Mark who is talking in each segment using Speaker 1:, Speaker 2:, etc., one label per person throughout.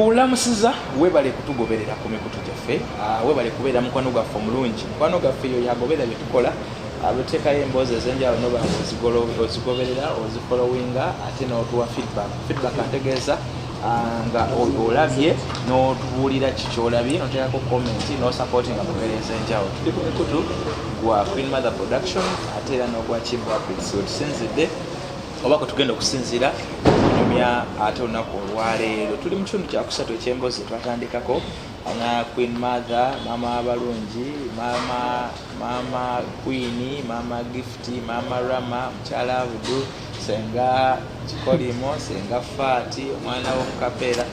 Speaker 1: Kulamusiza webale kutugoberera ku mikutu gyaffe, ah, webale kubeera mukwano gwaffe omulungi. Mukwano gaffe yoyo agoberera bye tukola, abuteekayo ah, emboozi ez'enjawulo noba ozigoberera ozifolowinga ate n'otuwa feedback. Feedback ategeeza ah, nga olabye n'otubuulira ki kyolabye noteekako komenti n'osapootinga mu mbeera ez'enjawulo. Tuli ku mikutu gwa Queen Mother Production ate era n'ogwa Kivu Apix wetusinzidde. oba kwe tugenda okusinziira kunyumya ate olunaku olwaleero tuli mu kitundu kyakusatu ekyembozi twatandikako na queen mother maama abalungi maama maama queen maama gift maama rama mukyala abudu senga kikolimo senga faati omwana womukapeera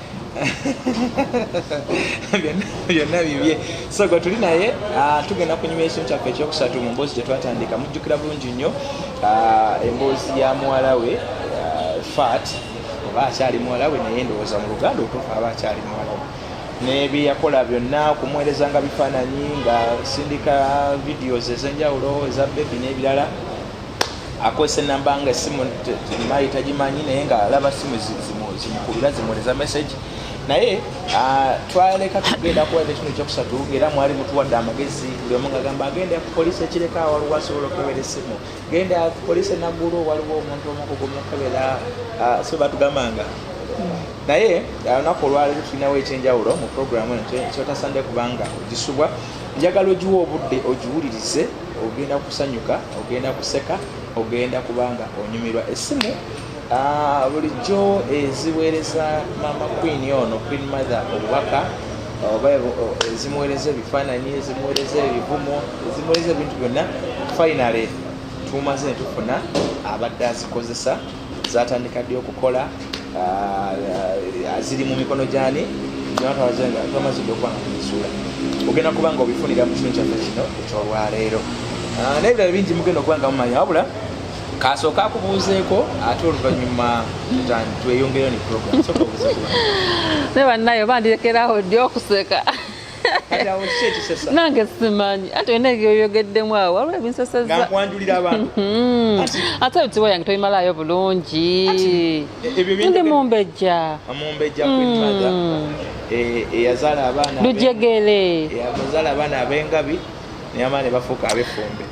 Speaker 1: byonna bibye so gwe tuli naye ah, tugenda kunyuma ekintu kyaffe ekyokusatu mu mboozi gyetwatandika mujjukira bulungi nnyo ah, emboozi ya muwala we ah, fat oba akyali muwala we naye ndowooza mu luganda otuufu aba akyali muwala we nebyeyakola byonna okumuweereza nga bifaananyi nga sindika videos ezenjawulo eza bebi n'ebirala akozesa enamba nga esimu mayi tagimanyi naye nga alaba simu zimukulira zimuleza message naye ah, twaleka tugenda kuwa ekintu ekyokusatu era mwali mutuwadde amagezi buli omu ngagamba agenda ku polisi ekireka waliwo asobola okukebera essimu genda ku polisi enaggulu waliwo omuntu omukugu mukebera ah, so batugambanga naye ah, olunaku olwaleero tulinawo ekyenjawulo mu programu eno kyotasande kubanga ogisubwa njagala ogiwa obudde ogiwulirize ogenda kusanyuka ogenda kuseka ogenda kubanga onyumirwa esimu ah, bulijjo eziweereza mama queen ono queen mother obubaka oba ezimuweereza ebifaananyi ezimuweereza ebivumo ezimuweereza ebintu byonna finally tumaze netufuna abadde azikozesa zatandika ddi okukola ah, ah, ziri mu mikono gyani twamazidde okuba nga tuzizuula ogenda kuba nga obifunira mu kitundu kyaffe kino ekyolwaleero ah, nebirala bingi mugenda okuba nga mumanya wabula kasooka akubuuzeeko ate oluvannyuma tweyongereyo ne program naye
Speaker 2: bannayo bandirekerawo ddi okuseka nange simanyi ate olina ebyoyogeddemu awo waliwo ebinsesezakwanjulira abantu
Speaker 1: hmm. ate
Speaker 2: ebitiwa yange tobimalayo bulungi e- ndi mumbejja hmm. e-
Speaker 1: eyazaala abaana lujegere
Speaker 2: eyazaala abaana
Speaker 1: abengabi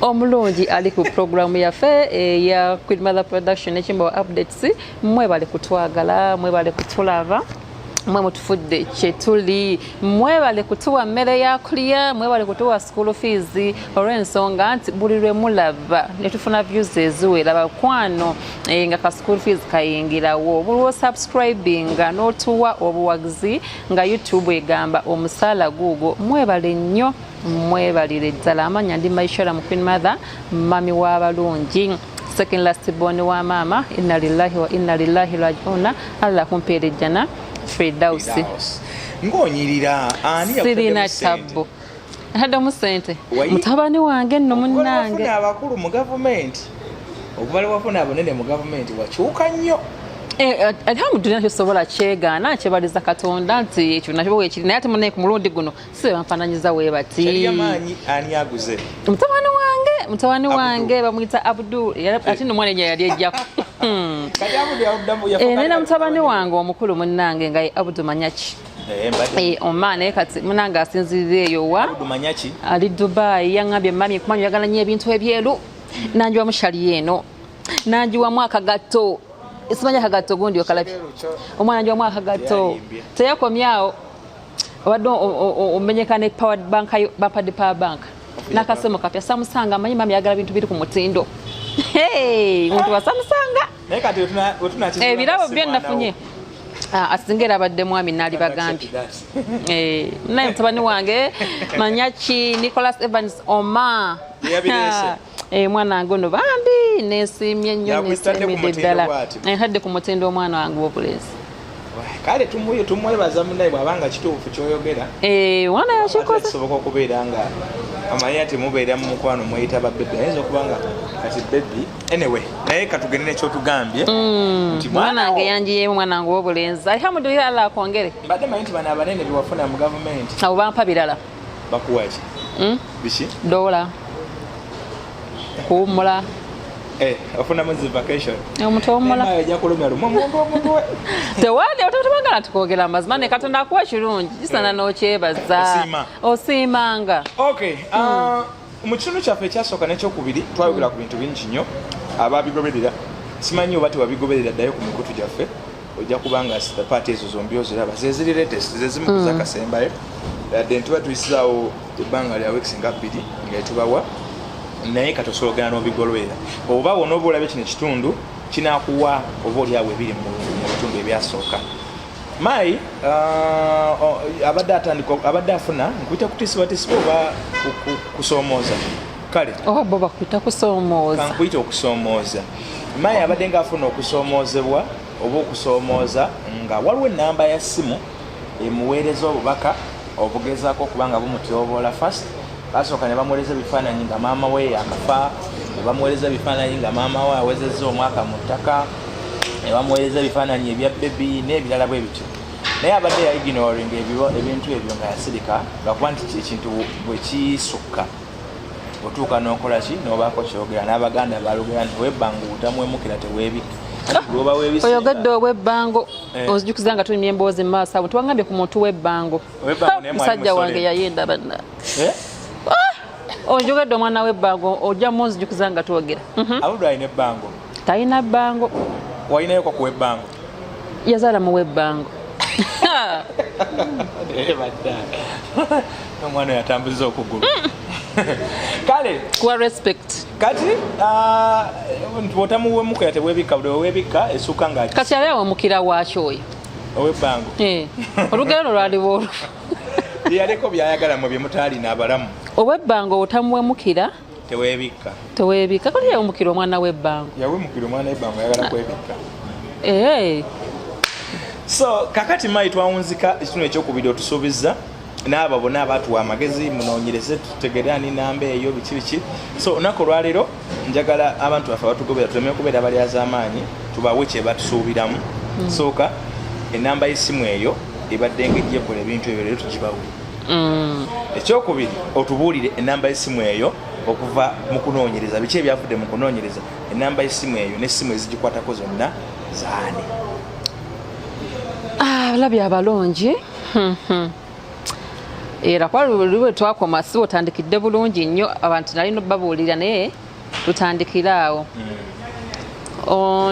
Speaker 1: omulungi ali ku
Speaker 2: pulogulaamu yaffe eya eh, queen mother production ekimbawa updates mwebale kutwagala mwebale kutulaba mwe mutufudde kyetuli mwebale kutuwa mmere ya kulya mwebale kutuwa school fees olw'ensonga nti buli lwe mulaba ne tufuna views eziwera bakwano e, nga ka school fees kayingirawo buli wosubscribinga n'otuwa obuwagizi nga youtube egamba omusaala guugwo mwebale nnyo mwebalire ddala amanya ndi maishora mu queen mother mami w'abalungi second last born wa maama inna lillahi wa inna lillahi rajiuna allah kumpeera ejjana fridausi ng'onyirira
Speaker 1: ani sirina tabbu
Speaker 2: ntaddamu sente mutabani wange nno munnange abakulu mu
Speaker 1: gavumenti okubala wafuna abanene mu gavumenti wakyuka nnyo eh, eh, alhamdulillah kyosobola kyegaana kyebaliza katonda nti ekyo nakyo bwekiri naye ate munaye ku mulundi guno sibe banfananyiza webati mutabani wange
Speaker 2: mutabani wange bamwita abdul ate nomwana enya yali ejjako hmm. eh, naye namutabani wange omukulu munange nga ye abdu manyaki eh, eh, oman naye kati munange asinzirira eyo wa ali dubai yaŋambye mami kumanyi oyagala nyo ebintu ebyeru hmm. nanjiwamu shali eno nanjiwamu akagatto simanya akagatto gundi okalabye omwana njiwamu akagatto teyakomyawo obadde omenyeka ne powered bank bapadi power bank nakasemo kapya samusanga amanyi mami yagala bintu biri ku mutindo muntu wasamusanga ebirabo eh, byo nafunye ah, asinga era abadde mwami naali bagambye eh, naye mutabani wange manyaki nicholas evans oma Eh, mwana wange ono bambi nesiimye nnyo nesiimidde ddala nhadde ku mutindo eh, omwana wange wobulezi kale
Speaker 1: tumuyo tumwebaza munaye bwabanga kituufu kyoyogera eh, wana
Speaker 2: yakikozekisoboka okubeera nga
Speaker 1: amanya nti mubeera mu mukwano mweyita ba bebi ayinza okuba nga kati bebi anyway naye katugende nekyotugambye mm,
Speaker 2: mwanange yanjiyemu mwanange wobulenzi alhamdulillah allah akwongere mbadde manyi nti bano abanene
Speaker 1: bewafuna mu gavumenti abo bampa birala
Speaker 2: bakuwaki hmm?
Speaker 1: biki
Speaker 2: dola kuwumula
Speaker 1: eh, ofunamu zi vacation omuntu owumulaoja kulumya
Speaker 2: tukogera amazima ne katonda akuwa ekirungi kisana eh. nokyebaza osiimanga okay hmm. ah,
Speaker 1: mu kitundu kyaffe ekyasooka n'ekyokubiri twayogera ku bintu bingi nnyo ababigoberera simanyi oba tewabigoberera ddayo ku mikutu gyaffe ojja kubanga paati ezo zombi oziraba zeziri latest zezimu mm. zakasembayo yadde ntuba tuyisizaawo ebbanga lya weeks nga bbiri nga etubawa naye katosologana n'obigolwera oba wona oba olabye kino ekitundu kinakuwa oba olyawo ebiri mu bitundu ebyasooka Mai uh, oh, abadde atandika abadde afuna nkuyita kutisibwatisibwa oba kusoomooza kale oba oh, bo bakuyita
Speaker 2: kusoomooza kankuyita okusoomooza
Speaker 1: Mai abadde nga afuna okusoomoozebwa oba okusoomooza nga waliwo enamba ya ssimu emuweereza obubaka obugezaako okuba nga bumutyoboola fast basooka ne bamuweereza ebifaananyi nga maama we yakafa ne bamuweereza ebifaananyi nga maama we awezezza omwaka mu ttaka ne bamuweereza ebifaananyi ebya bebi n'ebirala bwe bityo naye abadde yaignoring ebintu ebyo nga yasirika lwakuba nti ekintu bwe kisukka otuuka n'okola ki n'obaako kyogera n'abaganda balugera nti webbanga obutamwemukira teweebika
Speaker 2: oyogedde owebbango eh. ozijukiza nga tunyumya emboozi mu maaso abo tewagambye ku muntu webbango musajja wange yayenda banna eh? ah! onjogedde omwana webbango ojja munzijukiza nga twogera mhm.
Speaker 1: talina bbango
Speaker 2: walinayo kakuwa
Speaker 1: ebbango yazaala
Speaker 2: muwa ebbango
Speaker 1: omwana yatambuza okugulu mm. kale kuwa respect
Speaker 2: kati
Speaker 1: ah, bwotamuwemukira tebwebikka buli wewebikka esuka nga kati ali awemukira
Speaker 2: waaki oyo owebbango
Speaker 1: eh, olugero
Speaker 2: no lwaliwo olufu yaleko
Speaker 1: byayagala mu byemutaalina abalamu owebbango
Speaker 2: otamuwemukira tewebikka tewebikka kati yawumukira omwana w'ebbango yawumukira omwana w'ebbango
Speaker 1: ayagala kwebikka ee so kakati mayi twawunzika ekitunu ekyokubiri otusuubizza n'abo bona abatuwa amagezi munoonyereze tutegere ani namba eyo biki biki so olunaku olwaleero njagala abantu baffe abatugobera tuleme okubeera balyazaamaanyi tubawe kyebatusuubiramu hmm. sooka enamba y'essimu eyo ebadde nga ejjekola ebintu ebyo leero tugibawe mm. ekyokubiri otubuulire enamba yesimu eyo okuva mu kunoonyereza biki ebyavudde mu kunoonyereza enamba yesimu eyo nesimu ezigikwatako zonna zaani
Speaker 2: ah, labya abalungi hmm, hmm. era kwali lwe twakoma si otandikidde bulungi nnyo abantu nali nobabuulira naye tutandikire awo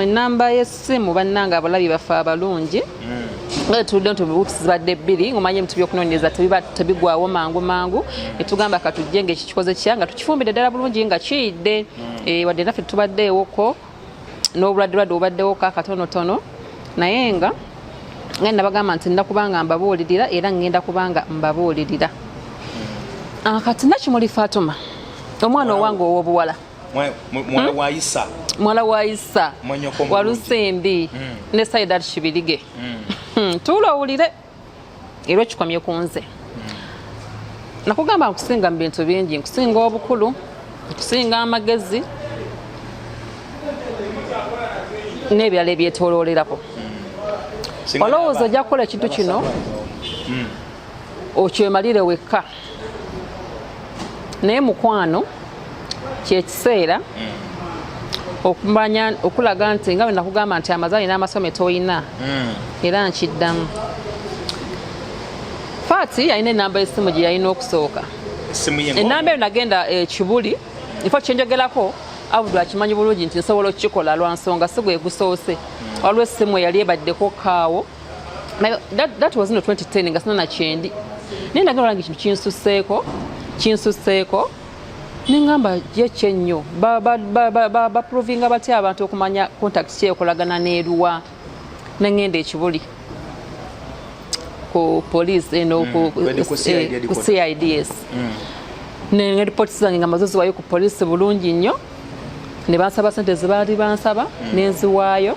Speaker 2: enamba oh, yessimu bannanga abalabi baffe abalungi tuludde nti obubuutusi zibadde bbiri ngomanye ebintu byokunoonyereza tebigwawo mangu mangu netugamba katujje ngaekikikoze kya nga tukifumbidde ddala bulungi nga kiyidde mm. eh, wadde naffe tubaddeewoko n'obuladdulwadde obaddewo ka katonotono naye nga nga nabagamba nti nda kubanga mbabuulirira era ngenda kubanga mbabuulirira ah, kati nakimuli fatuma omwana owange owobuwala muwala hmm? wa isa muwala wa isa walusembi hmm. ne saidat kibirige hmm. tuula owulire era okikomye ku nze nakugamba nkusinga mu bintu bingi nkusinga obukulu nkusinga amagezi n'ebirala ebyetoloolerako olowooza ojja kukola ekintu kino hmm. okyemalire wekka naye mukwano kyekiseera okumanya okulaga nti nga wenakugamba nti amazaali n'amasome tolina hmm. era nkiddamu faati yalina enamba y'essimu gye yalina okusooka enamba eyo nagenda ekibuli eh, ifo kyenjogerako abudu akimanyi bulungi nti nsobola okukikola lwa nsonga si gwe gusoose hmm. waliwo essimu eyali ebaddeko kaawo that, that was no 2010 nga sina nakyendi naye nagala olange kintu kinsuseeko kinsuseeko nengamba ye kyennyo baprovinga batya abantu okumanya contact kyekolagana neruwa nengenda ekibuli ku police eno mm, ku cids mm. ne reports zange nga mazozi wayo ku police bulungi nnyo ne bansaba sente zebaali bansaba mm. nenziwaayo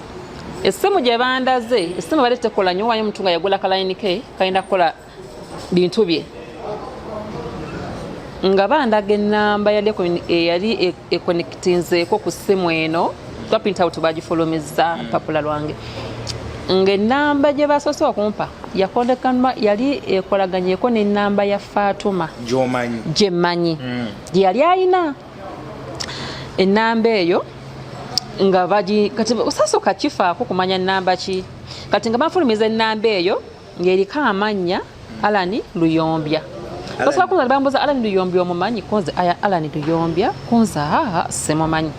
Speaker 2: essimu gye bandaze essimu bali tekola nyo wayo omuntu nga yagula kalayini ke kalina kukola bintu bye nga bandaga enamba yali eh, ekonektinzeeko ku ssimu eno twapintawuti bagifulumizza mm. papula lwange ng'ennamba gye basoose okumpa yakondekanwa yali ekolaganyeko n'ennamba ya faatuma gyemanyi mm. gye yali ayina ennamba eyo nga bagi kati sasooka kifaako kumanya nnamba ki kati nga banfulumiza ennamba eyo ng'eriko amannya alani luyombya basobola kunza bambuza alani luyombya omumanyi kunze aya alani luyombya kunza haha simumanyi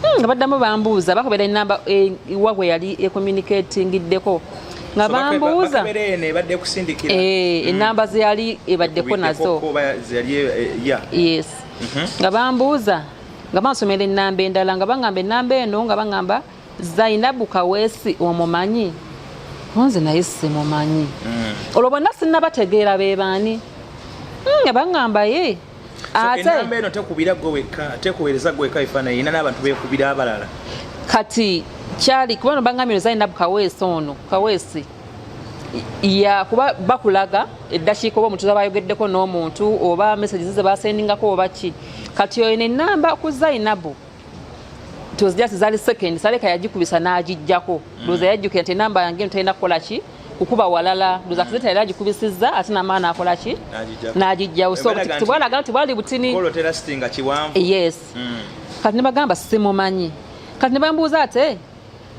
Speaker 2: hmm, nga baddamu bambuuza bakubera enamba eh, wa gwe yali ecommunicatingiddeko nga bambuuza enamba eh, hmm. zeyali ebaddeko nazo eh, yes mhm. nga bambuuza nga bansomera ennamba endala nga baŋamba ennamba eno nga baŋamba zainabu kaweesi omumanyi onze naye simumanyi mm. olwo bonna sinabategeera bebaani mm, nga baŋamba ye atenamba
Speaker 1: eno tekubira gwe wekka tekuweereza gwe wekka efaananyi ina n'abantu bekubira abalala kati
Speaker 2: kyali kubano baŋambye no zainabu kaweesi ono kaweesi ya kuba bakulaga eddakiika oba omutuuze abayogeddeko n'omuntu oba messages ze basendingako oba ki kati oyo nenamba ku zainabu tozijasi zali second saleka yagikubisa n'agijjako mm. loza yajjukira nti enamba yange eno talina kukola ki kukuba walala loza kizeta yali agikubisizza ate namaa nakola ki n'agijjawo so tibwalaga nti bwali butini yes mm. kati nebagamba simumanyi kati nebambuuza ate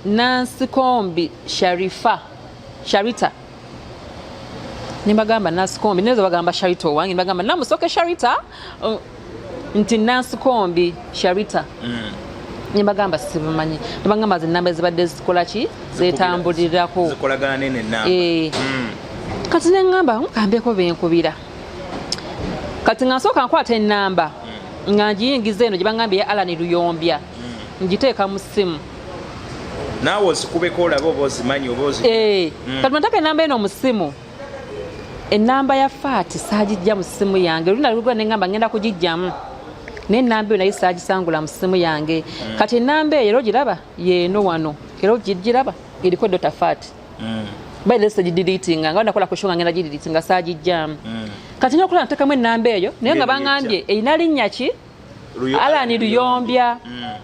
Speaker 2: nansikombi sharifa sharita nibagamba nansikombi nezo bagamba sharita owange nibagamba namusoke sharita uh, nti nansikombi sharita mm. nibagamba sibumanyi nibagamba zinamba ezibadde zikolaki zetambulirako
Speaker 1: eh. mm.
Speaker 2: kati nengamba nkambeko benkubira kati nga nsooka nkwata enamba mm. nga ngiyingiza eno gyebangambye ya alani luyombya mm. ngiteeka mu ssimu naawe
Speaker 1: ozikubeko olabe oba ozimanyi oba ozi eh, mm. kati mataka
Speaker 2: enamba eno mu ssimu enamba ya faati saagijja mu ssimu yange olunda lugula ne ngamba ngenda kugijjamu naye enamba eyo naye saagisangula mu ssimu yange mm. kati enamba eyo era ogiraba yeeno wano era ogiraba eriko dota faati mm. by the stage deleting nga nakola ku shonga ngenda deleting nga saji jam mm. kati nyokola ntakamu enamba eyo naye nga bangambye eyina linnya ki alani luyombya mm.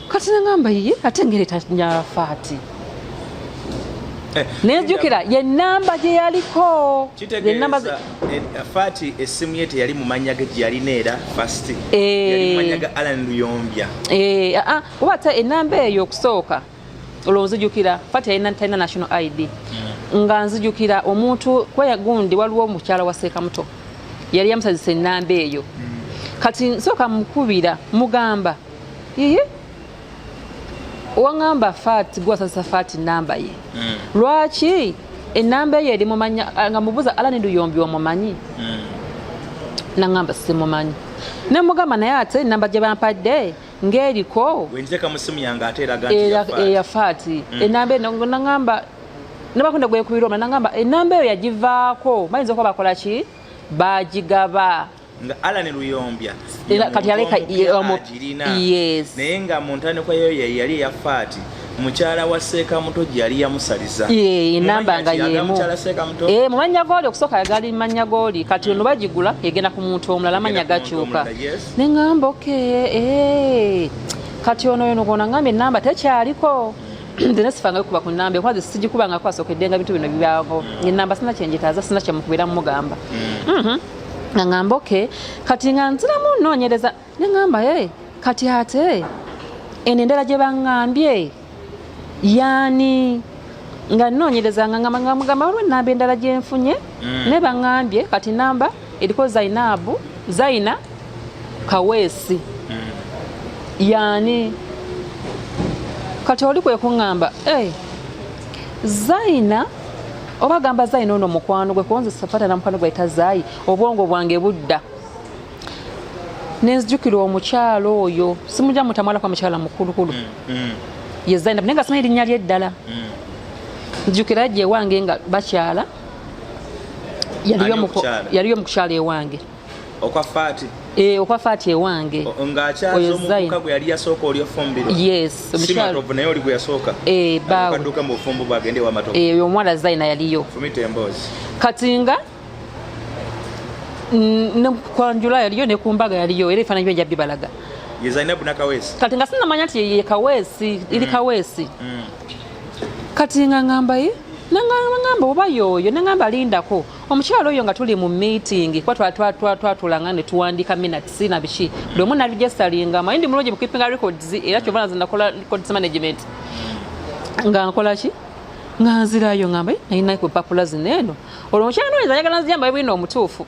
Speaker 2: kati nangamba ye ate ngeri tanyala faati eh, nejukira ye namba gye yaliko eh,
Speaker 1: faati essimu ye teyali mu mannya ge gyeyalina era fast eh. yali mu mannya ga alan luyombya ah, ah,
Speaker 2: kuba ate enamba eyo okusooka olwo nzijukira fati yalina talina national id hmm. nga nzijukira omuntu kweyagundi waliwo omukyala wa seekamuto yali yamusazisa enamba eyo hmm. kati nsooka mukubira mugamba iye owaŋamba fati gwasazisa fati namba ye hmm. lwaki enamba eyo erimumanya nga mubuza alani luyombi omumanyi naŋamba simumanyi nemugamba naye ate enamba gye bampadde ng'eriko
Speaker 1: eyafaati
Speaker 2: mm. enamba eno nangamba nabakunda gwekubira omula nangamba enamba eyo yagivaako bayinza okuba bakola ki bagigaba nga Alan
Speaker 1: Luyombya kati yaleka
Speaker 2: agirina naye
Speaker 1: nga mu ntandikwa yo yali eya faati mukyala wa seeka muto gye yali yamusaliza enamba nga
Speaker 2: yemu eh, mu mannya gooli okusooka yagali mannya gooli kati ono bagigula egenda ku muntu omulala amannya gakyuka nengamba okay eh kati ono yono gona ngambe namba tekyaliko ndina sifanga kuba ku namba kwazi sijikuba nga kwasokedde nga bintu bino bibago ni namba sina kyenjitaza sina kyemukubira mugamba mm. mhm mm nangamba okay kati nga nziramu nonyereza nengamba eh kati ate enendera gye bangambye yaani nga nnoonyereza nga nga mugamba waliwo enamba endala gye nfunye mm. naye baŋambye kati namba eriko zainabu zaina kaweesi mm. yaani kati oli kwe kuŋŋamba eh, zaina oba gamba zaina ono mukwano gwe kuba nze safaata na mukwano gwe ayita zaayi obwongo bwange budda nenzijukira omukyalo oyo simuja mutamwala kwa mukyala mukulukulu mm, mm. ye Zainab naye nga simanyi erinnya lye eddala mm. nzijukira gye ewange nga bakyala yaliyo mu kukyala ewange
Speaker 1: okwa
Speaker 2: faati eh okwa faati ewange nga akyazo
Speaker 1: muka gwe yali yasooka oli ofumbiro yes omukyalo
Speaker 2: obu naye oli
Speaker 1: gwe yasooka eh bawo kaduka
Speaker 2: mu fumbu bagende
Speaker 1: wa matovu eh oyo omwana zaina yaliyo
Speaker 2: fumite embozi
Speaker 1: katinga
Speaker 2: nekwanjula yaliyo nekumbaga yaliyo era ebifaananyi bye jabbibalaga
Speaker 1: kati nga sinamanya nti ye
Speaker 2: kaweesi iri mm. kaweesi mm. kati nga ngamba ye nangamba oba yoyo nangamba lindako omukyalo oyo nga tuli mu meeting kuba twatulanga ne tuwandiika minutes na biki buli omu narijestalinga maye ndi mulungi mu keeping records era kyova naze nakola records management nga nkola ki nga nzirayo ngamba eh, nayina ku papula zino eno olwo mukyala noyinza ayagala nzija mbaye bwino omutuufu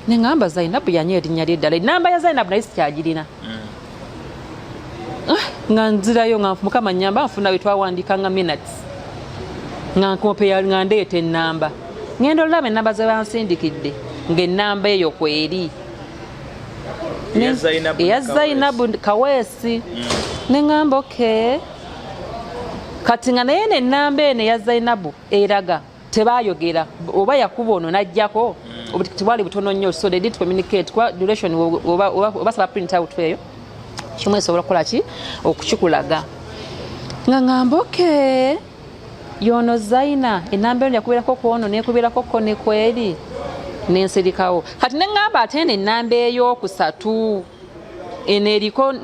Speaker 2: nengamba zainabu yanyo erinnya lye ddala enamba ya zainabu naye sikyagirina mm. ah, nga nzirayo nga mukama nyamba nfuna wetwawandiika nga minutes nga nkompeya nga ndeeta enamba ngenda olulaba enamba zebansindikidde ngaenamba eyo kweri eya zainabu kaweesi mm. nengamba okay kati nga naye nenamba eno eya zainabu eraga tebayogera oba yakuba ono najjako hmm. tibwali butono nnyo so they did communicate kwa duration obasaba print out eyo kimu esobola okukola ki okukikulaga nga ngamba oke yono zaina enamba eno yakubeerako kwono nekubeerako ko nekweri nensirikawo kati nengamba ate eno enamba eyokusatu eno eriko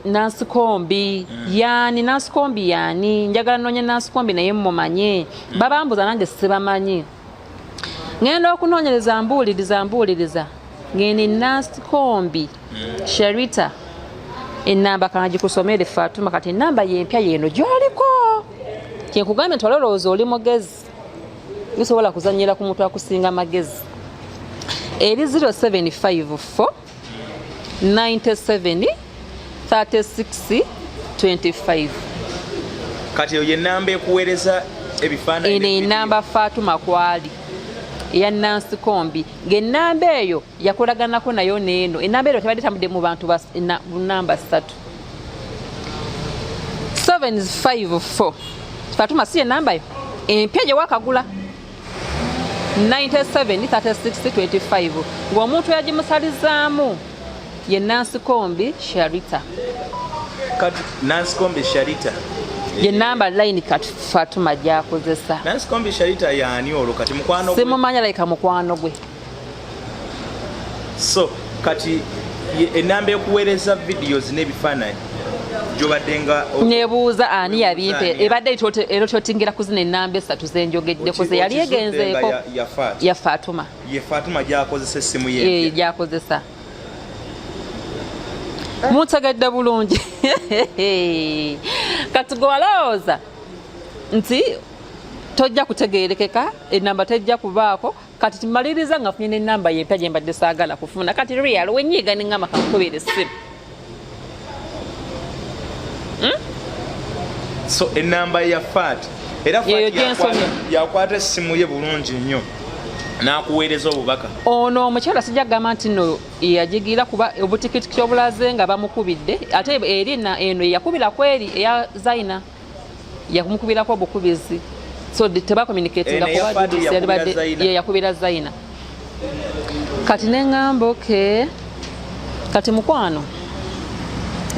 Speaker 2: nansikombi mm. yani nansikombi yani njagala nonya nansikombi naye mumanye mm. babambuza nange sibamanyi ngenda okunonyereza mbuuliriza mbuuliriza ngeni nansikombi mm. sherita enamba kanagikusomere fatuma kati enamba yempya yeno gyoliko kyenkugambye nti walolowooza oli mugezi usobola kuzanyira ku muntu akusinga magezi eri 0754 97 36 25
Speaker 1: kati eyo yenamba ekuweereza ebifaananyi eno enamba
Speaker 2: fatuma kwali eya nansi kombi ngaenamba eyo yakolaganako nayo neeno enamba eyo tebadde tambudde mu bantu namba satu 754 fatuma si enambayo empya gyewakagula 973625 ng'omuntu yagimusalizaamu ye nansikombi sharita
Speaker 1: kati nansikombi sharita ye namba
Speaker 2: line kati fatuma gyakozesa nansikombi sharita
Speaker 1: yaani olwo kati mukwano simumanya layika mukwano
Speaker 2: gwe
Speaker 1: so kati enamba ekuweereza videos n'ebifaananyi nebuuza
Speaker 2: ani yabimpa ebadde era kyotingira kuzina enamba esatu zenjogeddeko zeyali egenzeeko ya fatuma
Speaker 1: gyakozesa
Speaker 2: mutegedde bulungi kati gwe walowooza nti tojja kutegeerekeka enamba tejja kubaako kati tumaliriza nga funye nenamba yempya gyembadde saagala kufuna kati real wenyiiga nengamba kakukubira essimu
Speaker 1: hmm? so enamba ya fat era yakwata essimu ye bulungi nnyo nakuweereza obubaka ono omukyala sijja
Speaker 2: kugamba nti no yajigira kuba obutikitiki obulaze nga bamukubidde ate eri eno eyakubira kweri eya zaina yakumukubirako obukubizi so tebakomunikatinga eh, kuba dudisi yalibadde ye yakubira zaina kati neŋŋamba oke kati mukwano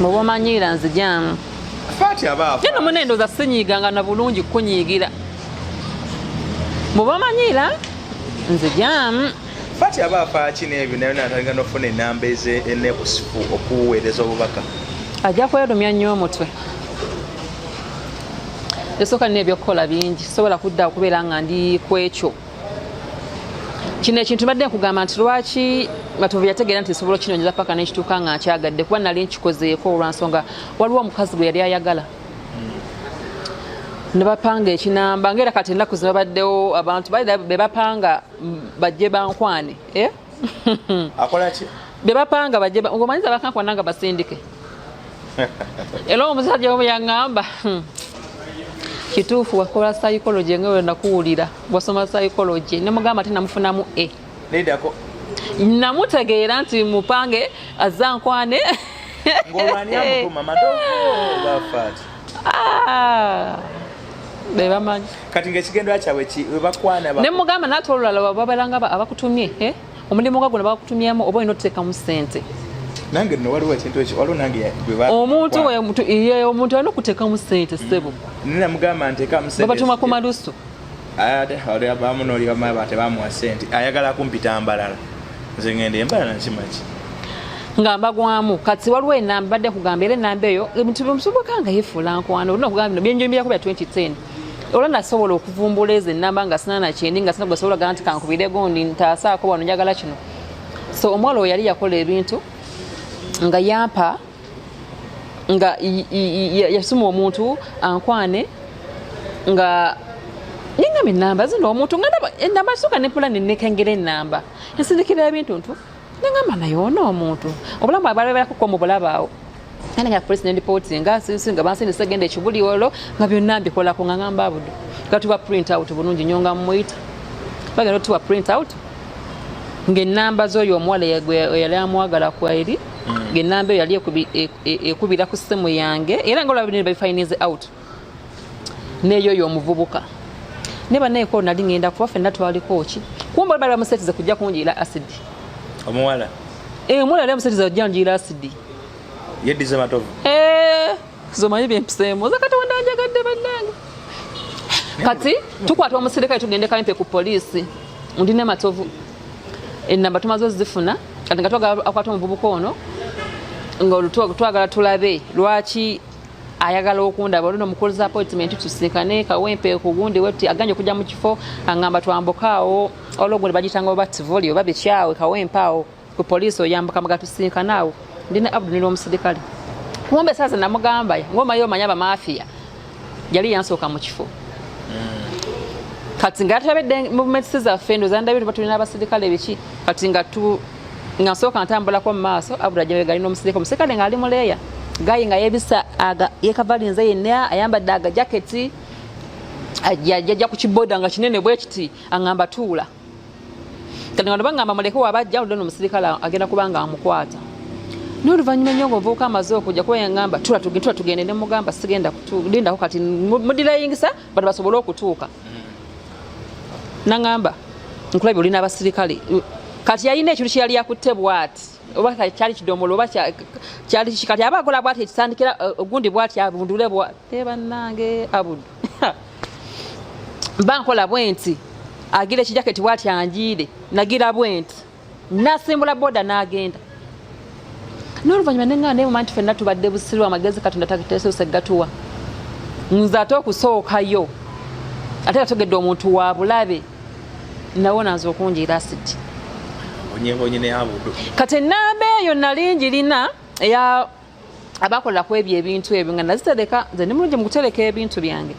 Speaker 2: muba omanyiira nzijamu
Speaker 1: yeno muna endoza sinyiganga
Speaker 2: na bulungi kukunyiigira muba omanyiira nzijamu fati aba
Speaker 1: afaaki n'ebyo naye natandika nofuna enamba ezenekusifu okuweereza obubaka ajja kwerumya
Speaker 2: nnyo omutwe esooka nina ebyokukola bingi sobola kudda okubeera nga ndi ku ekyo kino ekintu badde nkugamba nti lwaki batuvu yategeera nti nsobola okinonyeza paka nekituuka nga nkyagadde kuba nali nkikozeeko olwansonga waliwo omukazi gwe yali ayagala nebapanga ekinamba ngaera kati enaku zebabaddewo abantu bebapanga bajje bankwane eh?
Speaker 1: akolaki bebapanga bajje
Speaker 2: omanyiza bakankwana nga basindike era omusajja omu yaŋŋamba hmm, kituufu wakola psychology nga wena kuwulira wasoma psychology ne mugamba ate namufunamu e nedako namutegeera nti mupange azankwane
Speaker 1: ngolwani amukuma madogo bafati Ah,
Speaker 2: bebamanyi kati ngaekigendera kyabwe
Speaker 1: webakwana ne mugamba nate
Speaker 2: olulala babalanga abakutumye eh? omulimu nga guno bakutumyemu oba olina otuteekamu sente
Speaker 1: nange no waliwo ekintu ekyo waliwo nange omuntu omuntu
Speaker 2: alina okuteekamu sente sebo mm. namugamba
Speaker 1: nteekamu sente babatuma ku malusu
Speaker 2: ate
Speaker 1: abamu nolibamaya ba tebamuwa sente ayagala kumpita mbalala nze ngenda embalala nkimaki nga
Speaker 2: mbagwamu kati waliwo enamba badde kugamba era enamba eyo ebintu byomusoboka nga yefuula nkwano olina okugamba bino byenjoyimbirako bya 2010 olwo nasobola okuvumbula ezo enamba nga sinana kyendi nga sina gwesobola gana nti kankubire gundi ntaasaako wano njagala kino so omuwala oyo yali yakola ebintu nga yampa nga yasuma omuntu ankwane nga nengamba enamba zino omuntu nga enamba soka nepulani nekengera enamba ensindikira ebintu ntu nengamba naye ono omuntu obulamu abalaberakoko mu bulabaawo ane nga polisi nendipooti nga sisi nga bansi nesegenda ekibuli olwo nga byonna mbikolako nga ngamba abudu nga tuba print out bulungi nyo nga mumuyita bagenda otuwa print out ng'ennamba z'oyo omuwala eyali amwagala kweri mm. genamba eyo yali e, e, ekubira ku simu yange era nga olabinire babifinise out neyo yo omuvubuka ne baneko nali ngenda kuba fenna twaliko ki kumba bali bamusetize kujja kunjira acid omuwala
Speaker 1: eh omuwala yali
Speaker 2: amusetize kujja kunjira acid yedize
Speaker 1: matovu eh
Speaker 2: zomanyi byempisemu zakati wanda njagadde bannange kati tukwata omusirikale tugende kampe ku poliisi ndi ne matovu enamba tumaze ozifuna kati nga twagala akwata omuvubuka ono ngtwagala tulabe lwaki ayagala okundaba olino mukulza appointment tusinkane kawempe kugundi weti aganye okuja mu kifo angamba twambuka awo ologundi bagitanga oba tivoli oba bikyawe kawempe awo ku poliisi oyambuka mga tusinkana awo ndina abdu nili omusidikale kumbe saaza namugamba ngomayo omanya bamafiya yali yansooka mu kifo kati nga tulabedde movements zaffe ndoza ndabye tuba tulina abaserikale biki kati nga tu nga nsooka ntambulako mu maaso abula jabe gali n'omuserikale omuserikale ng'ali mu leeya gayi nga yebisa aga yekavalinze yenna ayambadde aga jaketi ajja ku kiboda nga kinene bwe kiti aŋamba tuula kati nga nebagamba muleke waba ajja oludde nomusirikale agenda kubanga amukwata naye oluvannyuma ennyo nga ovubuka amaze okujja kuba yangamba tula tugende ne mugamba sigenda lindako kati mudirayingisa bano basobole okutuuka mm. nangamba nkulabye olina abasirikale kati yalina ekintu kyeyali yakutte bwati oba kyali kidomola oba kyali kiki kati aba akola bwati ekisandikira uh, ogundi bwati abundule bwati banange abudu mba nkola bwenti agira ekijaketi bwati anjiire nagira bwenti nasimbula boda n'agenda n'oluvannyuma ne ŋŋanda emuma nti fenna tubadde busiru amagezi katonda tateesoose gatuwa nze ate okusookayo ate kategedde omuntu wa bulabe nawona nze okunjiira asiti kati enamba eyo nali njirina eya abakolera ku ebyo ebintu ebyo nga nazitereka nze ndi mulungi mu kutereka ebintu byange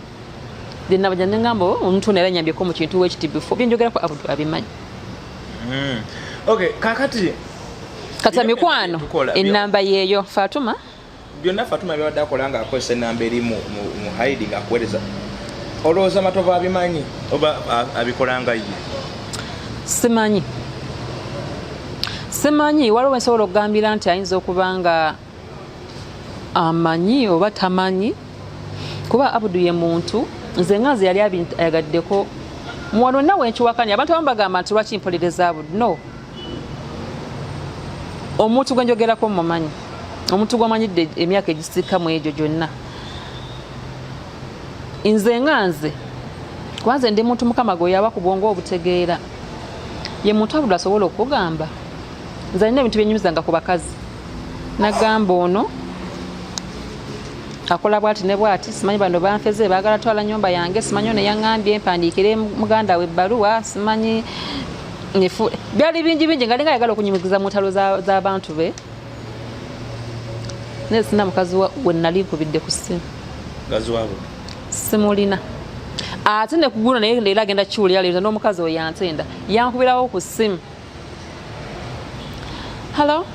Speaker 2: then nabaja ne ngamba oh, omuntu ono era nyambyeko mu kintu wekiti before byenjogerako abudu abimanyi hmm. okay
Speaker 1: kakati kati
Speaker 2: amikwano enamba yeeyo fatuma byonna fatuma
Speaker 1: byabadde akola nga akozesa enamba eri mu hiding akuwereza olowooza matovu abimanyi oba abikolanga ye simanyi
Speaker 2: simanyi waliwo wensobola okugambira nti ayinza okuba nga amanyi oba tamanyi kuba abudu ye muntu nze nga nze yali ayagaddeko muwano nawe nkiwakanya abantu abamu bagamba nti lwaki mpolereza abudu no omuntu gwe njogerako mumanyi omuntu gwamanyi emyaka egisika mu egyo gyonna nze nga nze kubanze ndi muntu mukama gwe yaba ku bwongo obutegeera ye muntu abudde asobola okugamba nze alina ebintu byenyumizanga ku bakazi nagamba ono akola bwati ne bwati simanyi bano banfeze bagala twala nyumba yange simanyi ono yaŋambye mpandiikire muganda we ebbaluwa simanyi byali bingi bingi ngalinga ayagala okunyumikiza mu ntalo z'abantu be naye sina mukazi we nali nkubidde ku ssimu simulina ate nekugula naye leero agenda kiwulira leero n'omukazi we yantenda yankubirawo ku ssimu hallo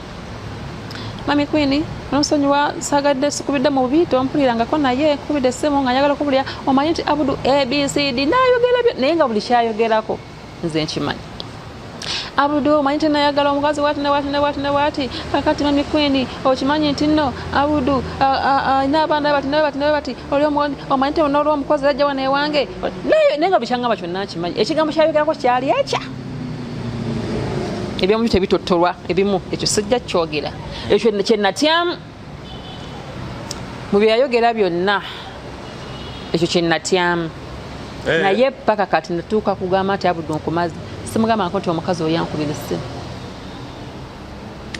Speaker 2: mami kwini nonsonyiwa sagadde sikubidde mu bubi tompulirangako naye nkubidde essimu nga njagala okubulira omanyi nti abudu abcd nayogera naye nga buli kyayogerako nze nkimanyi abudu omanyi tenayagala omukazi wati newati newati newati kakati mami kwini okimanyi nti no abudu alina abaana bati newebati newebati oli omanyi tenolwa omukozi ajja wano ewange naye nga bikyangamba kyonna akimanyi ekigambo kyayogerako kyali ekya ebyomubi tebitotolwa ebimu ekyo sijja kyogera ekyo kyenatyamu mu bye yayogera byonna ekyo kye natyamu eh. naye paka kati natuuka kugamba nti abudde onkumazi simugamba nko nti omukazi oyo yankubira essimu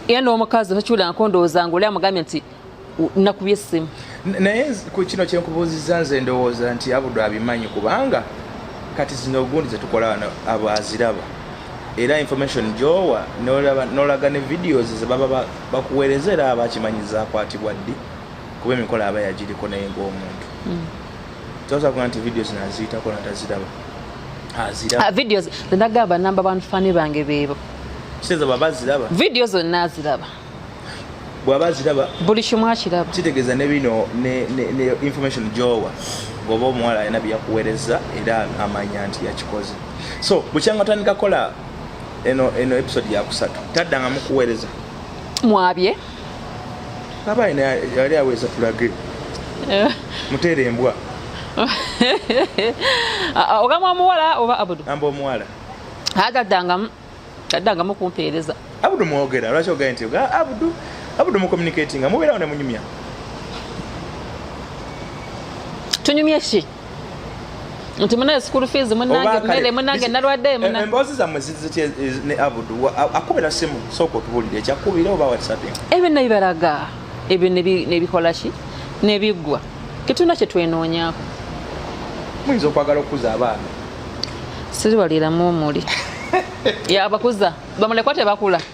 Speaker 2: era n'omukazi takiwulira nko ndowooza nga oli amugambye nti nakubye essimu naye ku
Speaker 1: kino kyenkubuuzizza nze ndowooza nti abudde abimanyi kubanga kati zino ogundi zetukola wano abo aziraba era information gyowa nolaga ne videos zebaba bakuweereza era aba akimanyiza akwatibwa ddi kuba emikolo aba yagiriko naye ngaomuntu hmm. tosakuga nti vidiyo zino aziyitako nataziraba aziraba ah, vidiyo
Speaker 2: zenagamba namba bantu fani bange beebo kiteeza baba
Speaker 1: aziraba vidiyo zonna aziraba bwaba aziraba buli kimu akiraba
Speaker 2: kitegeeza ne bino
Speaker 1: ne information gyowa ngoba omuwala alina byeyakuweereza era amanya nti yakikoze so bukyanga otandika kola eno eno episode ya kusatu tadda nga mukuweereza mwabye aba ina yali aweza tulage eh. muteere embwa
Speaker 2: ah, ah, ogamba omuwala oba abudu amba omuwala
Speaker 1: agaddangamu
Speaker 2: addangamu kumpeereza abudu mwogera
Speaker 1: lwaki ogaye nti abudu abudu mucommunicatinga mubeerawo ne munyumya
Speaker 2: tunyumye ki nti munaye school fees munange mmere munange nalwadde eh, muna emboozi zammwe
Speaker 1: zizitya eh, ne abudu akubira simu sooka otubulire ekyakubira oba whatsapping ebyo nebibalaga
Speaker 2: ebyo nebikola ki nebiggwa tetulina kyetwenoonyako
Speaker 1: muyinza okwagala okukuza abaana
Speaker 2: siriwaliramu omuli yabakuza bamulekwa tebakula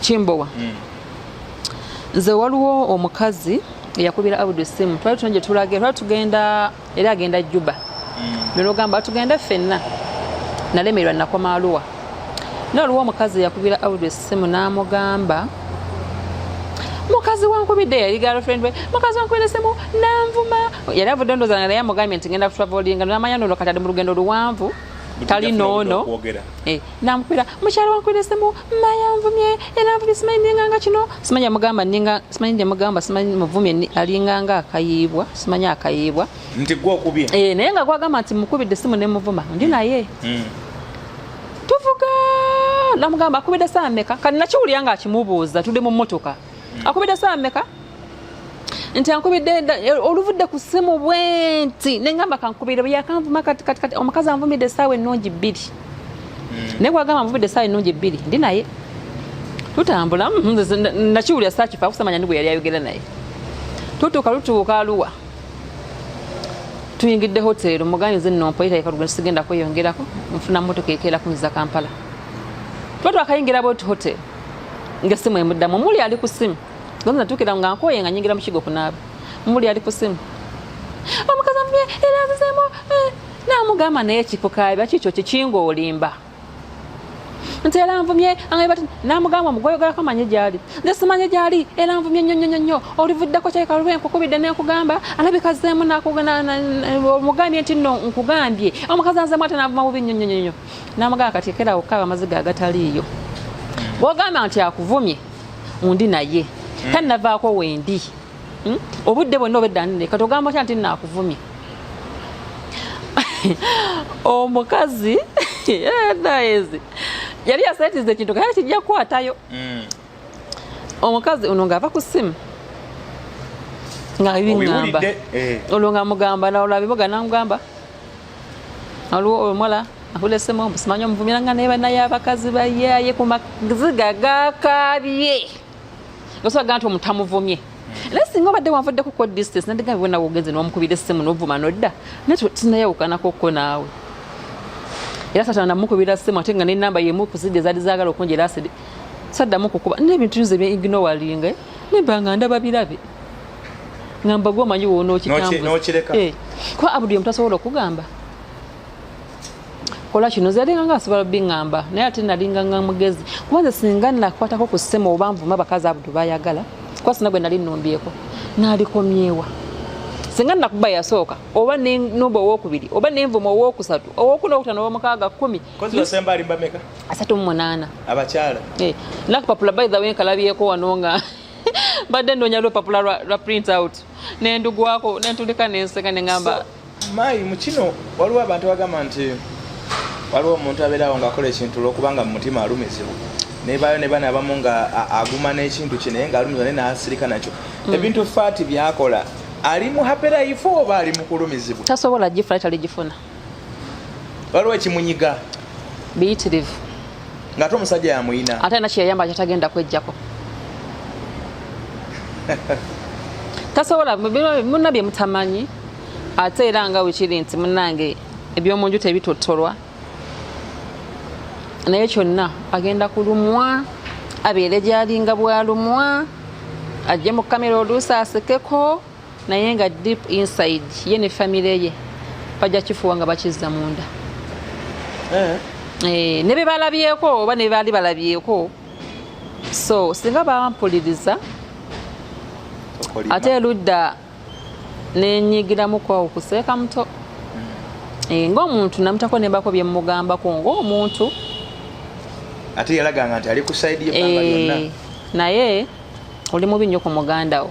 Speaker 2: kimbowa mm. nze waliwo omukazi eyakubira abudu simu twali tuna gyetulaga twali tugenda era agenda juba mm. nogamba tugenda fenna nalemererwa nakoma aluwa naye waliwo omukazi eyakubira abudu simu namugamba mukazi wankubidde yali girlfriend we mukazi wankubidde simu nanvuma yali avudde ndoza naye amugambye nti ngenda travelinga namanya nono kati ali mu lugendo luwanvu tali noono eh, namukubira mukyala wankwire simu mayanvumye era nvumye simanyi ninganga kino simanyi amugamba ninga simanyi nje mugamba simanyi muvumye alinganga akayiibwa simanyi akayiibwa nti gwe okubye
Speaker 1: eh naye nga gwagamba nti
Speaker 2: mukubidde simu ne muvuma ndi naye mm. tuvuga namugamba akubidde saa meka kati nakiwulira nga akimubuuza tudde mu mmotoka akubidde saa mmeka nti ankubidde eh, oluvudde ku ssimu bwenti nengamba kankubire bweyakanvuma kati kati kati omukazi anvumidde essaawa ennungi bbiri hmm. naye gwagamba anvumidde essaawa ennungi bbiri ndi naye tutambula mm, nakiwulira sakifa akusamanya ndi gwe yali ayogera naye tutuuka lutuuka aluwa tuyingidde hoteero mugambye nze nno mpoyita yekalugendo sigenda kweyongerako nfuna motoka ekeera kunziza kampala tuba twakayingira boti hoteero nga essimu emuddamu muli ali ku ssimu gonza natukira nga nkoye nga nyingira mukigo kunaaba muli ali ku ssimu omukazi amubye era azizemu eh, namugamba naye kikukaabi akikyo kikinga olimba nti era nvumye angaibati namugamba mugoyogerako manye gyali nze simanye gyali era nvumye nnyo nnyo nnyo olivuddeko kyekaluba enkukubidde nenkugamba alabika zzeemu omugambye nti no nkugambye omukazi anzemu ate navuma bubi nnyo nnyo nnyo namugamba kati ekerawo okukaaba amaziga agataliiyo bwogamba nti akuvumye undi naye hmm. tanavaako wendi hmm? obudde bwonna obeddanire kati ogamba otya nti nakuvumye omukazi eh, naezi yali yasetiza ekintu kaya kijja kukwatayo hmm. omukazi ono ng'ava ku ssimu nga bibiŋamba eh. olwo nga mugamba nalola biboga namugamba aliwo omuwala akulesemu ombu simanyi omuvumira nga naye banaye abakazi bayaye ku maziga gakabye osobaga nti omutamuvumye hmm. naye singa obadde wanvuddeko ko distance nadiga bibonawe ogenze nomukubira essimu novuma nodda naye tinayawukanako ko naawe era satana namukubira ssimu ate nga nenamba yemu kuzidde zali zagala okunjera asidi saddamu kukuba n'ebintu nze bye ignowalinga nemba nga ndaba birabe ngamba gwe omanyi woona okitambuza eh, kuba abudu yemu tasobola okugamba kola kino zalinga nga asobola biŋamba naye ate nalinga nga mugezi kuba nze singa nakwatako ku ssema oba nvuma abakazi abudu bayagala kuba sina gwe nali nnumbyeko nalikomyewa singa nakuba yasooka oba nomba owokubiri oba nenvuma owokusatu owokuna okutano owomukaaga kumi Kozi basemba alimba
Speaker 1: meka? Asatu mu munaana.
Speaker 2: Abakyala.
Speaker 1: Eh. Nakupapula
Speaker 2: by the way nkalabyeko wano nga mbadde ndoonya lupapula lwa, lwa print out nendugwako nentulika nenseka nengamba so, mayi mukino
Speaker 1: waliwo abantu bagamba nti waliwo omuntu abeerawo ngaakola ekintu lwokubanga mu mutima alumizibwa nebayo ne bana abamu nga aguma n'ekintu kye naye ngaalumizibwa naye naasirika nakyo mm. ebintu faati byakola ali mu haperayifu oba ali mu kulumizibwa tasobola gifuna taligifuna waliwo ekimunyiga biyitirivu
Speaker 2: ngaate
Speaker 1: omusajja yamuyina ate na kyeyayamba kyatagenda
Speaker 2: kwejjako tasobola muna bye mutamanyi ate era nga wekiri nti munange ebyomunju tebitotolwa naye kyonna agenda kulumwa abeere gyalinga bwalumwa ajje mu kamera oluusi asekeko naye nga deep inside ye ne famire ye bajja kifuwa nga bakizza munda eh. Eh, ne bebalabyeko oba ne bebaali balabyeko so singa bampuliriza ate eludda nenyigiramukwa okuseeka muto hmm. eh, ngaomuntu namutako nembako byemugambako ngaomuntu
Speaker 1: ate yalaganga nti ali ku saidi naye
Speaker 2: oli mubi nnyo ku mugandawo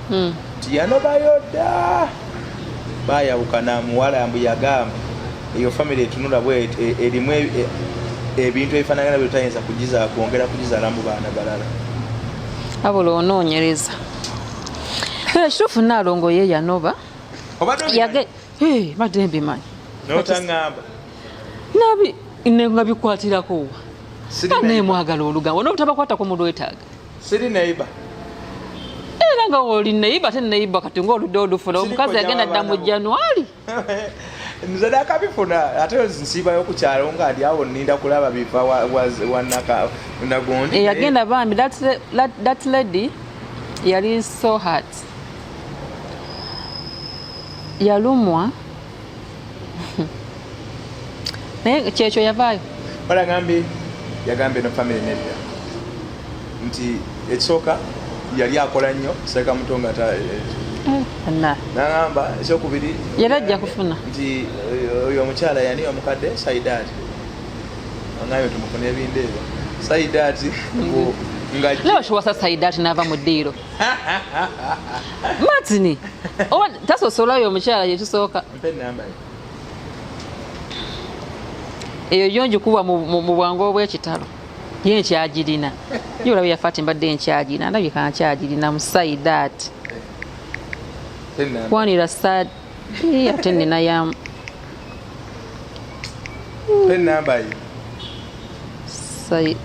Speaker 1: hmm. nti yanobayo dda bayawukana muwala mbu yagamba eyo famiry etunula bwet e, erimu e, e, ebintu ebifanagana byetayinza kugiza kwongera kugizala mu baana balala
Speaker 2: abula onoonyereza era kituufu naalongo ye yanoba badde mbimanyi notangamba nabi nga bikwatirako wa naye mwagala olugambo nobutabakwatako mulwetaaga siri neighbor era nga oli neighbor te neighbor kati nga oludde olufuna omukazi yagenda dda mu januari
Speaker 1: nze nakabifuna ate nsiibayo ku kyalo nga ali awo ninda kulaba biva wanaka nagundi eyagenda eh, bambi
Speaker 2: that lady yali so hard yalumwa naye kyekyo yavaayo balagambye yagambye
Speaker 1: no family nedda nti ekisooka yali akola nnyo seeka muto nga nagamba ekyokubiri yali ajja kufuna
Speaker 2: nti eh,
Speaker 1: oyo omukyala yani omukadde saidaati angayo tumufuna ebindeebyo saidaati mm-hmm.
Speaker 2: ngawasa saidaati naava mu ddiiro matini oba tasosola oyo omukyala yetusooka eyo yo njikuwa mu bwangu obwekitalo ye nkyagirina ye olaba yafati mbadde nkyagirina ndabika nkyagirina musaidat kwanira sad ate nina ya enamba ye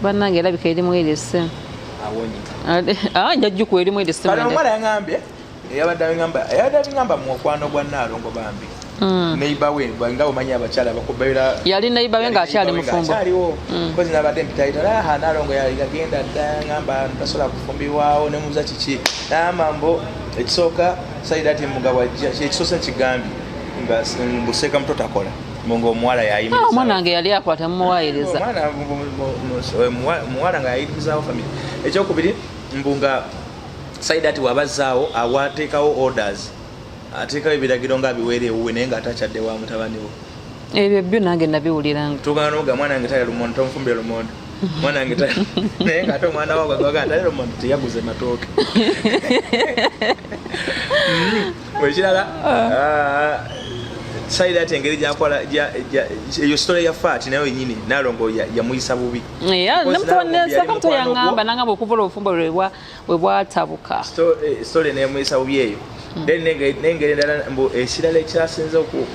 Speaker 2: banange erabika erimu erese ah, njajuku erimu ereseomwana yaambye
Speaker 1: eyabadde abigamba eyabadde abigamba mu okwano gwa naalongo bambi hmm. neiba we nga omanyi abakyala bakubeera yali neiba we
Speaker 2: ngaakyali mufumboaliwo hmm. kozi nabadde
Speaker 1: mpitayitalaha ah, naalongo yagenda dda ngamba tasobola kufumbirwawo nemuza kiki naamambo ekisooka saida ati mugabo ajja kyekisosa kigambye mbuseka muto takola munga omuwala yayimomwana ah, wange yali akwata
Speaker 2: mumuwayiriza
Speaker 1: muwala nga yayimirizawo famiry ekyokubiri mbu nga saida ati wabazaawo awateekawo orders ateekawo ebiragiro nga abiweera ewuwe naye nga atakyadde wa mutabaniwo ebyo byo nange
Speaker 2: nabiwuliranga tugana noga mwana wange
Speaker 1: taya lumonde tomufumbira lumonde mwana wange naye ngaate omwana wagwagaatalero mwana teyaguze matooke mm-hmm. ekirala ah. sayira ati engeri gyakola eyo sitola ya faati nayo yenyini nalongo yamuyisa bubi
Speaker 2: namutonesakamutoyangamba nangamba okuva olwobufumbo webwatabuka sitola eh,
Speaker 1: neyamuyisa bubi eyo hmm. then nengeri endala mbu ekirala ekyasinze oku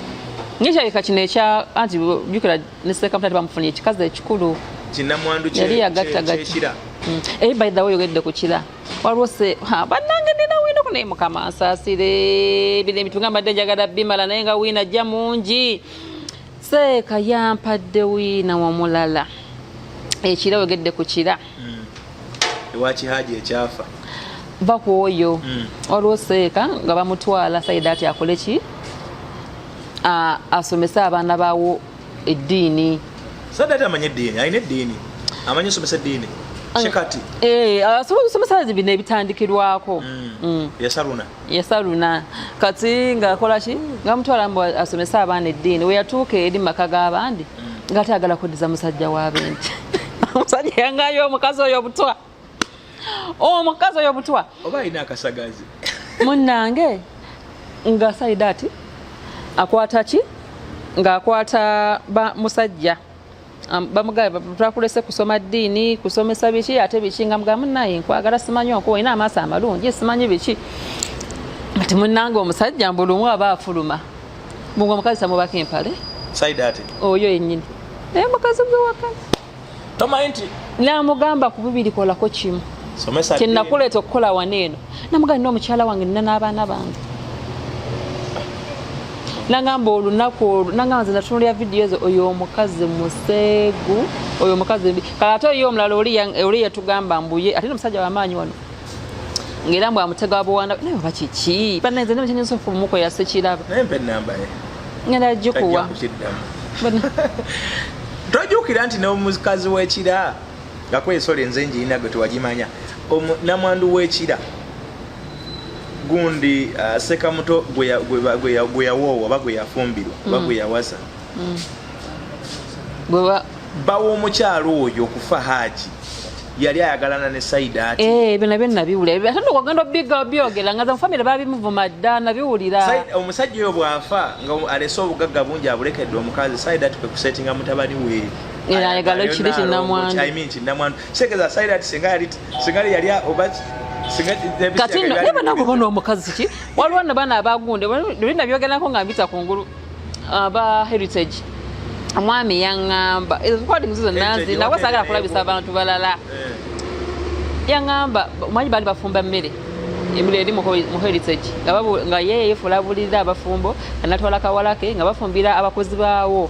Speaker 1: ngekyaleka
Speaker 2: kino ekya anti jukira ne ssekabula tebamufunye ekikazi ekikulu kinamwandu yali
Speaker 1: yagattagatta
Speaker 2: mm. ey eh, by the way oyogedde ku kira waliwo se bannange nina wiina ku naye mukama nsaasire bino ebintu nga mbadde njagala bimala naye nga wiina ajja mungi seeka yampadde wiina wamulala ekira oyogedde ku kira mm. ewa
Speaker 1: kihaji ekyafa va ku
Speaker 2: oyo mm. waliwo seeka nga bamutwala saidaati akole ki asomese abaana bawo eddiini saidaati
Speaker 1: amanye eddiini alina eddiini amanye osomesa eddiini kikati eh, asobola
Speaker 2: okusomesa bino ebitandikirwako mm. Mm. yasaruna yasaluna kati ng'akola ki nga mutwala mbu asomese abaana eddiini we yatuuka eri maka g'abandi nga ate agala kuddiza musajja wa bente omusajja yangayo omukazi oyo obutwa omukazi oyo obutwa oba alina akasagazi
Speaker 1: munnange
Speaker 2: nga saida ati akwata ki ng'akwata musajja Um, bamugamba twakulese kusoma ddiini kusomesa biki ate biki nga mugamu naye nkwagala simanyi onkuba olina amaaso amalungi simanyi biki kati munange omusajja mbulumu aba afuluma munga omukazi samubako empale
Speaker 1: oyo yenyini
Speaker 2: naye mukazi gwewaka
Speaker 1: namugamba
Speaker 2: kubibiri kolako kimu kyenakuleeta okukola wano eno namugani nomukyala wange nina n'abaana bange nangamba olunaku olwo nangamba nze natunulira vidiyo ezo oyo omukazi museegu oyo omukazi mbi kala ate oyo omulala oli yatugamba mbuye ate nomusajja wamaanyi wano ngaera mbu amutega wabuwanda naye oba kiki bananze naba kyenyinza okumuko yasekiraba
Speaker 1: ngenda jikuwa tojukira nti nomukazi wekira ngako ensolo enze njirina gwe tewagimanya namwandu wekira gundi uh, sekamuto gweyawoowa oba gweyafumbirwa oba mm. gweyawasa mm. bawa omukyalo oyo okufa haaji yali ayagalana ne saida ati eh ebyo nabyo nabiwulira
Speaker 2: ebyo ate ndokwagenda obiga obyogera nga mu famire babimuvuma dda nabiwulira omusajja oyo bw'afa
Speaker 1: nga alese obugagga bungi abulekedde omukazi saida ati kwe kusetinga mutabani we era ayagala ekiri
Speaker 2: kinamwandu
Speaker 1: kitegeeza sayira ti singa yali singa yali oba
Speaker 2: kati nno naye banange oba n'omukazi ki waliwo no baana abagunde luli nabyogerako nga mbita ku ngulu aba heritage omwami yaŋŋamba ezo zikwadi muzizo nanzi nawe saagala kulabisa abantu balala eh. yaŋŋamba omanyi baali bafumba mmere emuli eri muheritage nga ye yefula bulirira abafumbo anatwala kawalake nga bafumbira abakozi baawo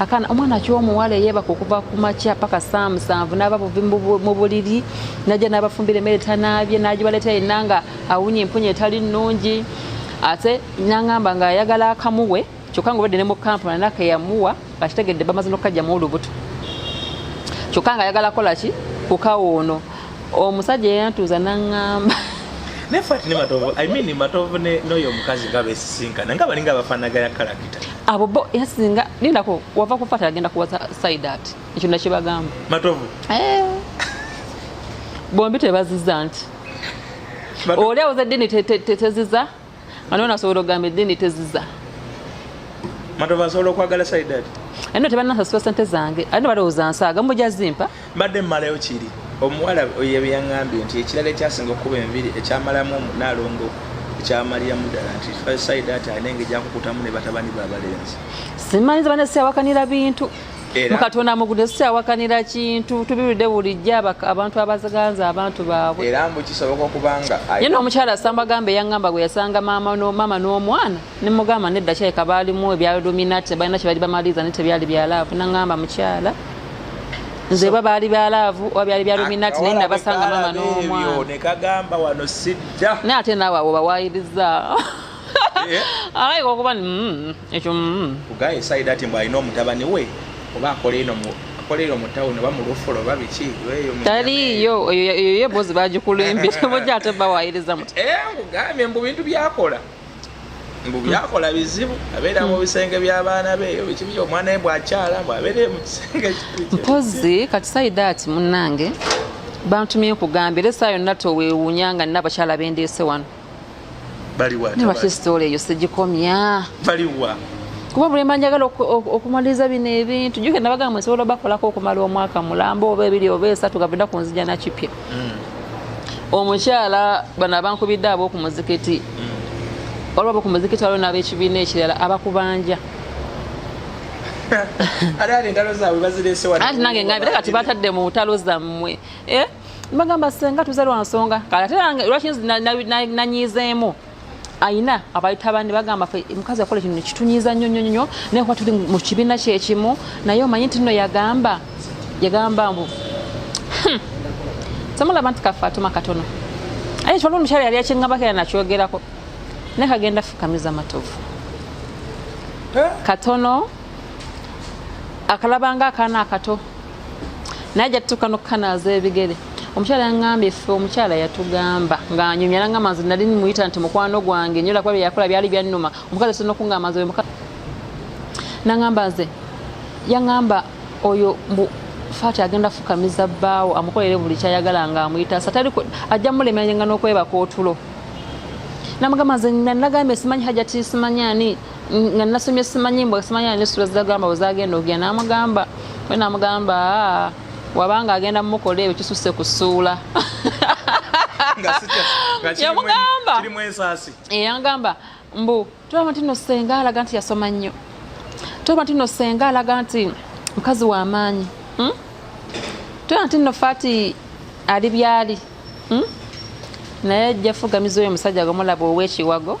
Speaker 2: akana omwana akiwa omuwala eyebaka okuva ku makya paka saa musanvu n'aba buvi mu buliri najja n'abafumbira emmere tanaabye n'agibaleeta yenna nga awunya empunya etali nnungi ate nangamba ng'ayagala akamuwe kyokka nga obadde ne mu kampuni anaka eyamuwa akitegedde bamaze n'okukajjamu olubuto kyokka nga ayagala kola ki kukawa ono omusajja eyantuuza nangamba naye
Speaker 1: fati ne matovu i mean matovu noyo omukazi nga besisinkana nga balinga abafanagaya kalakita abo bo yasinga
Speaker 2: lindako wava kufata agenda kuwa side at ekyo nakibagamba matovu eh. bombi tebaziza nti oli awoza eddini teziza ani ona asobola okugamba eddini teziza
Speaker 1: matovu asobola okwagala side at anno tebanasasula
Speaker 2: sente zange anno balowooza nsaaga mujazimpa mbadde mmalayo
Speaker 1: kiri omuwala yebyangambye nti ekirala ekyasinga okukuba enviri ekyamalamu omunaalongo ekyamaliramu ddala nti saida ati alina engeri gyakukutamu ne batabani babalenzi simanyiza bane
Speaker 2: siyawakanira bintu mukatonda mugude siyawakanira kintu tubiwulidde bulijjo abantu abaziganza abantu baabwe era mbu kisoboka
Speaker 1: okubanga ye n'omukyala samba
Speaker 2: gamba eyaŋŋamba gwe yasanga maama n'omwana nemugamba nedda kyaleka baalimu ebya luminati tebalina kyebali bamaliza naye tebyali bya laavu nangamba mukyala nze oba baali bya laavu oba byali bya luminati naye nabasanga mama n'omwananekagamba
Speaker 1: wano sidda naye ate naawe awo
Speaker 2: bawayiriza eh? alaika okuba mm, ekyo mm. kugaye
Speaker 1: saidi ati mbu alina omutabani we oba akola eno akolera omutawuni oba mulufula oba biki taliiyo
Speaker 2: eyo yebozi bagikulimbira mujja ate bawayiriza muti eh, nkugambye mbu bintu
Speaker 1: byakola mbu byakola bizibu abeera mu bisenge by'abaana be eyo bikibi omwana we bwakyala mbu abeeree mu kisenge mpozi
Speaker 2: kati saidaati munnange bantumye nkugambye era esaa yonna towewuunya nga nina abakyala bendeese wano nebaki sitoola eyo
Speaker 1: sigikomya
Speaker 2: kuba bulemba njagala okumaliriza bino ebintu juke nabagamba nsobola bakolako okumala omwaka mulamba oba ebiri oba esatu gavenda kunzija nakipya mm. omukyala bano abankubidde ab'oku muzikiti mm. olwo ab'oku muzikiti waliwo n'ab'ekibiina ekirala abakubanja anti nange ngambira kati batadde mu ntalo zammwe eh? bagamba senga tuze lwa nsonga kati ate lwaki nanyiizeemu ayina abayita bandi bagamba fe mukazi akola kino kitunyiza nnyo nnyo nnyo naye kuba tuli mu kibiina kyekimu naye omanyi nti nno yagamba yagamba mbu hmm, temulaba nti kafe atuma katono aye kiwaliwo omukyala yali akingambako era nakyogerako naye kagenda fukamiza matovu eh? katono akalabanga akaana akato naye ajja tutuuka n'okukanaaza ebigere omukyala yangambye ffe omukyala yatugamba ng'anyumya nanga manzi nali muyita nti mukwano gwange nyola kuba byeyakola byali byannuma omukazi sirina okungamba nze nangamba nze yangamba oyo fati agenda fukamiza bbaawo amukolere buli kyayagala nga amuyita satali ajja mulemeranga n'okwebaka otulo namugamba nze nagambye simanyi hajati simanyi ani nga nasomye simanyi mbwa simanyi ani sula zagamba wezagenda ogenda namugamba we namugamba ah, wabanga agenda mukola ebyo kisuse kusuula yamugamba yamugamba mbu tolaba nti no senga alaga nti yasoma nnyo tolaba nti no senga alaga nti mukazi wa maanyi hmm? tolaba nti no fati ali byali hmm? naye jafugamiza oyo omusajja gomulaba owekiwago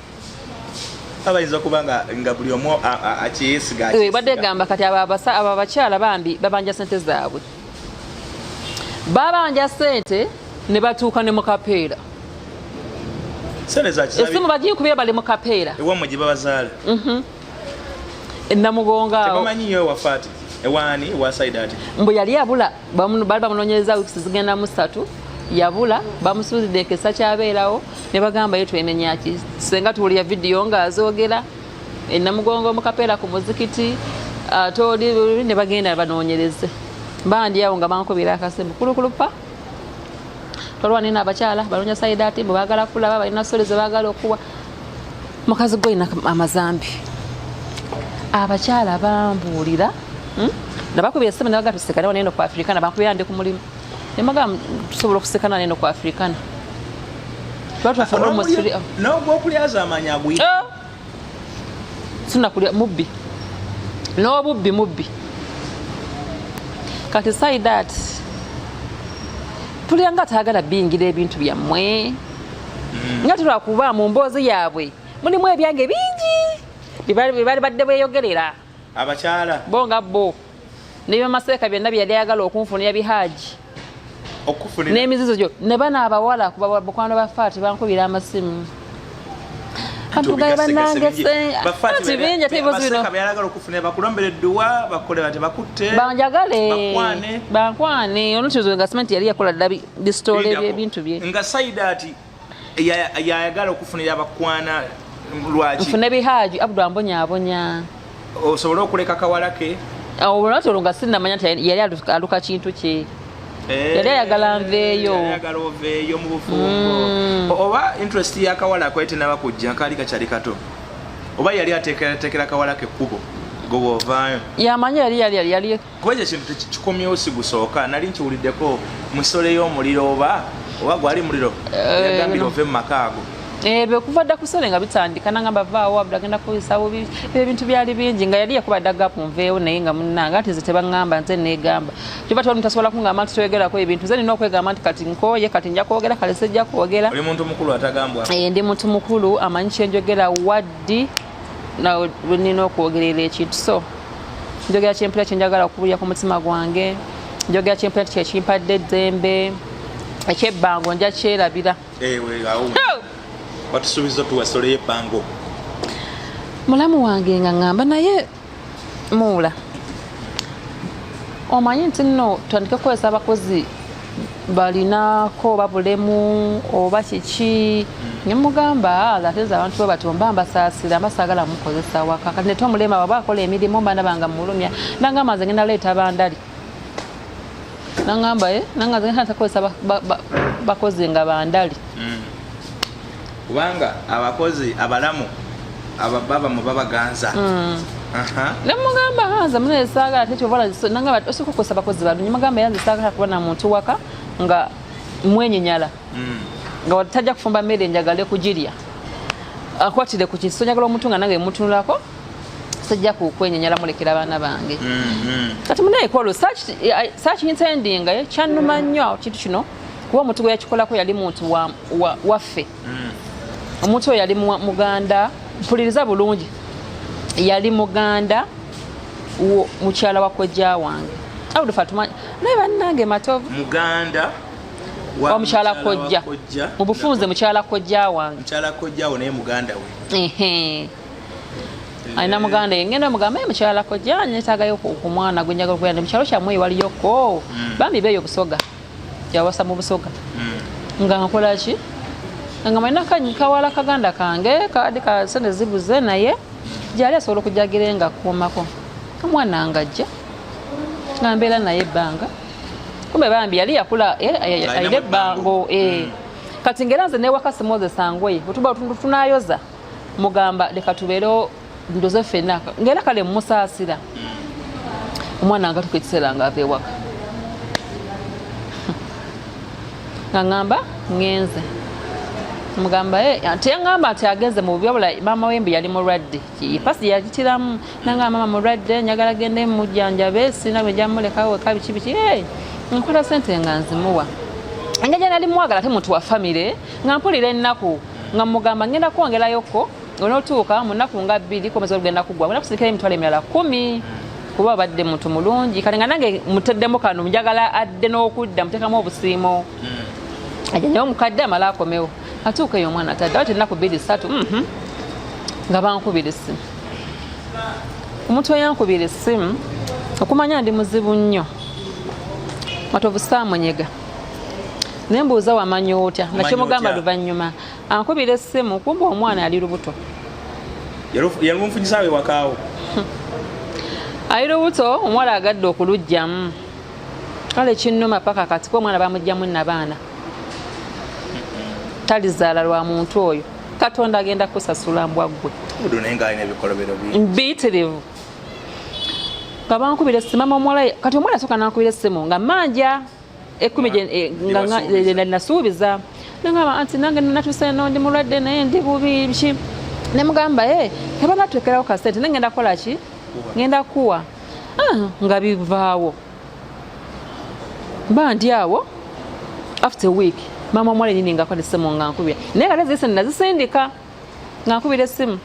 Speaker 1: abayinza okuba nga nga buli omu akyeyesiga eh, ebadde egamba kati
Speaker 2: abo abakyala bambi babanja sente zaabwe babanja sente ne batuuka ne mukapeera esimu bagiyikubira bali mukapeera ewamwe gye babazaala
Speaker 1: mhm.
Speaker 2: enamugongaomanyiyo ewafaati
Speaker 1: ewaani ewasaidati mbu yali abula
Speaker 2: baali bamunonyereza wiks zigenda mu satu yabula bamusuuzidde enkesa kyabeerawo ne bagamba ye twenenyaki senga tuwulira vidiyo ng'azoogera enamugongo mukapeera ku muzikiti ate ah, oli ne bagenda banoonyereze bandi awo nga bankubira akasimu kulukulupa tolwanina abakyala banoonya sayidaati mbu baagala kulaba balina sole ze baagala okuwa mukazi gwe olina amazambi abakyala bambuulira hmm? nabakubira esimu nabaga tusekana waneno ku afrikana bankubira ndi ku mulimu nemaga tusobola okusekana waneno ku afrikana
Speaker 1: nogwokulyazamanya agwi eh? sinakulya
Speaker 2: mubbi n'obubbi mubbi kati saidat tulya nga taagala biyingira ebintu byammwe nga tulwa kuba mu mboozi yaabwe mulimu ebyange bingi byebaali badde bweyogerera abakyala
Speaker 1: bo nga bo
Speaker 2: nebyamaseeka byonna byeyali ayagala okunfunira bihaaji n'emizizo gyo ne bano abawala kuba bakwano ba faati bankubira amasimu banjagale bankwane olukizo nga simenti yali yakola ddabi bisitole byebintu bye nga saidati
Speaker 1: yayagala okufunira abakwana lwaki nfune bihaji
Speaker 2: abdu ambonyabonya osobole
Speaker 1: okuleka kawala ke olwati olwo nga
Speaker 2: sinamanya nti yali aluka kintu kye eh, yali ayagala nveeyo oveeyo mu
Speaker 1: bufumbo mm. oba interest yakawala akwete naba kujja kaali kakyali kato oba yali ateekerateekera kawala ke kkubo goba ovaayo yamanya yali
Speaker 2: yali yali kuba ekyo kintu
Speaker 1: tekikomyewo sigusooka nali nkiwuliddeko musole y'omuliro oba oba gwali muliro eh, yagambira ove mu maka ago eh, bekuva dda
Speaker 2: kusole nga bitandika nangamba vaawo abula agenda kukozesa bubi ebintu byali bingi nga yali yakuba dda gapu nveewo naye nga munange ati nze tebaŋŋamba nze neegamba kyova tewali mutasobola kuŋŋamba nti toyogerako ebintu nze nina okwegamba nti kati nkooye kati nja kwogera kale sijja kwogera
Speaker 1: eh, ndi muntu mukulu
Speaker 2: amanyi kyenjogera waddi nawe nina okwogerera ekintu so njogera kyempulira kyenjagala okubulira ku mutima gwange njogera kyempulira nti kyekimpadde eddembe ekyebbango nja kyerabira
Speaker 1: watusuubiza otuwasoleyo ebbango
Speaker 2: mulamu wange nga ŋamba naye muula omanyi nti nno tutandike kukozesa abakozi balinako oba bulemu oba kiki nemugamba ala ah, teza abantu bwe batyo mba mbasaasira mba saagala mukozesa waka kati nete omulema waba akola emirimu mba nabanga mulumya nangamba nze ngenda leeta bandali nangamba e eh, nanga nze ngenda takozesa bakozi nga bandali mm. kubanga
Speaker 1: abakozi abalamu abababamu babaganza mm. nemugamba
Speaker 2: hanze mune esaagala tekyobala nangamba osooka okukosa bakozi balungi mugamba yanze esaagala kuba na muntu waka nga mwenyenyala mm. nga watajja kufumba mmere njagale kugirya akwatire ku kintu sonyagala omuntu nga nange mutunulako sijja kukwenyenyala mulekera abaana bange mm, mm. kati munaye kwalo search intending eh, kyanuma nnyo kintu kino kuba omuntu gwe yakikolako yali muntu waffe hmm. omuntu oyo yali muganda mpuliriza bulungi yali muganda mukyala wa kojja wange awudu fatuma naye bannange matovu muganda
Speaker 1: wa
Speaker 2: mukyala kojja mu bufunze mukyala kojja wange mukyala kojja wo naye
Speaker 1: muganda we ehe
Speaker 2: alina muganda yengenda mugamba ye mukyala kojja nyetaagayo ku mwana gwe njagala okugenda mukyalo kyammwe ewaliyoko hmm. bambi beeyo busoga yawasa mu busoga hmm. nga nkola ki nga malina kawala kaganda kange kadi ka sente zibuze naye gyali asobola okujagira nga kuumako omwana nga ajja nga mbeera naye ebbanga kumbe bambi yali yakula eh, ayina ebbango eh. hmm. kati ngaera nze newaka simoze sangoye otuba tunayoza mugamba leka tubeereo ndoze fena ngera kale musasira omwana ngatuka ekiseera nga ava ewaka nga ngamba ngenze mugamba eh, teyangamba nti agenze mu bubi wabula maama wembi yali mulwadde pasi yakitiramu nanga maama mulwadde njagala gende mujjanjabe sirina bwe njamulekaweka biki biki eh, nkola sente nga nzimuwa engeri nali mwagala te muntu wa famire nga mpulira ennaku nga mugamba ngenda kwongerayoko onotuuka mu nnaku nga bbiri komeza olugenda kugwa olina kusirikira emitwalo emirala kumi kuba abadde muntu mulungi kati nga nange muteddemu kano njagala adde n'okudda muteekamu obusiimo hmm. aja naye omukadde amala akomewo atuuka eyo omwana tadde ati ennaku bbiri ssatu mhm. nga bankubira essimu omuntu eyankubira essimu okumanya ndi muzibu nnyo matovu saamunyega naye mbuuza wamanya otya nga kyemugamba luvannyuma ankubira essimu kumba omwana ali lubuto yalumufunyisaawe
Speaker 1: wakaawo
Speaker 2: ali lubuto omuwala agadde okulujjamu kale kinnuma paka kati ko omwana bamugjamu nabaana talizaala lwa muntu oyo katonda agenda kusasula mbwaggwe mbitirivu nga bankubira essimu mama omuwala kati omwana soka nankubira essimu nga manja ekumi eh, eh, nasuubiza nengamba anti nange natuuse no ndi mulwadde naye ndi bubi ki nemugamba e kaba natwekerawo kasente ne ngenda kukola ki ngenda kuwa ah, nga bivaawo mba ndi awo after week maama omuwala enyini ngakwatesemu nga nkubira naye kale zise nazisindika nga nkubira essimu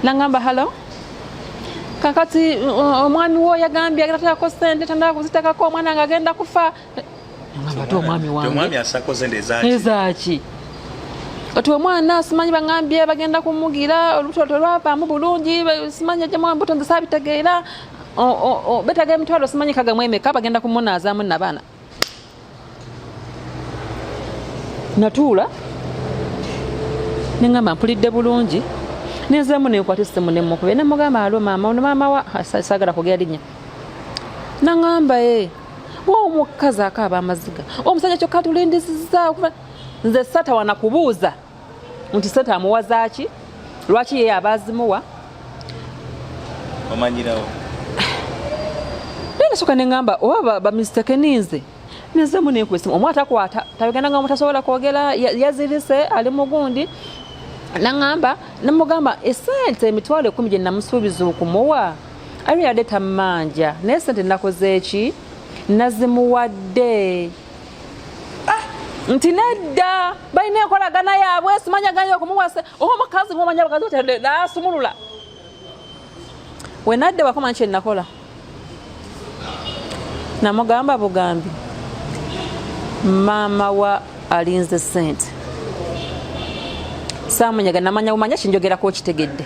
Speaker 2: nangamba halo kakati uh, omwami wo yagambye agenda takako sente tandala kuzitakako omwana nga agenda kufa ngamba te omwami wangeezaki kati omwana simanyi bangambye bagenda kumugira olubuto tolwavaamu bulungi simanyi ajjamu embuto nzisabitegeera betaga emitwalo simanyi kagamu emeka bagenda kumunaazamu nabaana natuula nengamba mpulidde bulungi nenziramu nenkwata esimu nemukube nemugamba alo maama ono maama wa sagala kugera linya nangamba e wa omukazi akaaba amaziga omusajja kyokka tulindisiza nze satawana kubuuza nti sente amuwa zaaki lwaki yeye aba azimuwa
Speaker 1: omanyirawo naye
Speaker 2: nasooka ne ŋŋamba oba bamisiteke ninze nezemu nenkuba esimu omu atakwata tabigenda nga mutasobola kwogera yazirise ali mugundi naŋŋamba namugamba esente emitwalo ekumi gye namusuubiza okumuwa alinadde tammanja naye sente nakoze eki nazimuwadde ah, nti nedda balina enkolagana yaabwe simanya ganye okumuwasa oba omukazi ngomanya abakazi batadde nasumulula wenadde wakoma nkye nakola namugamba bugambi maama wa alinze sente samunyaga namanya bumanya kinjogera ku okitegedde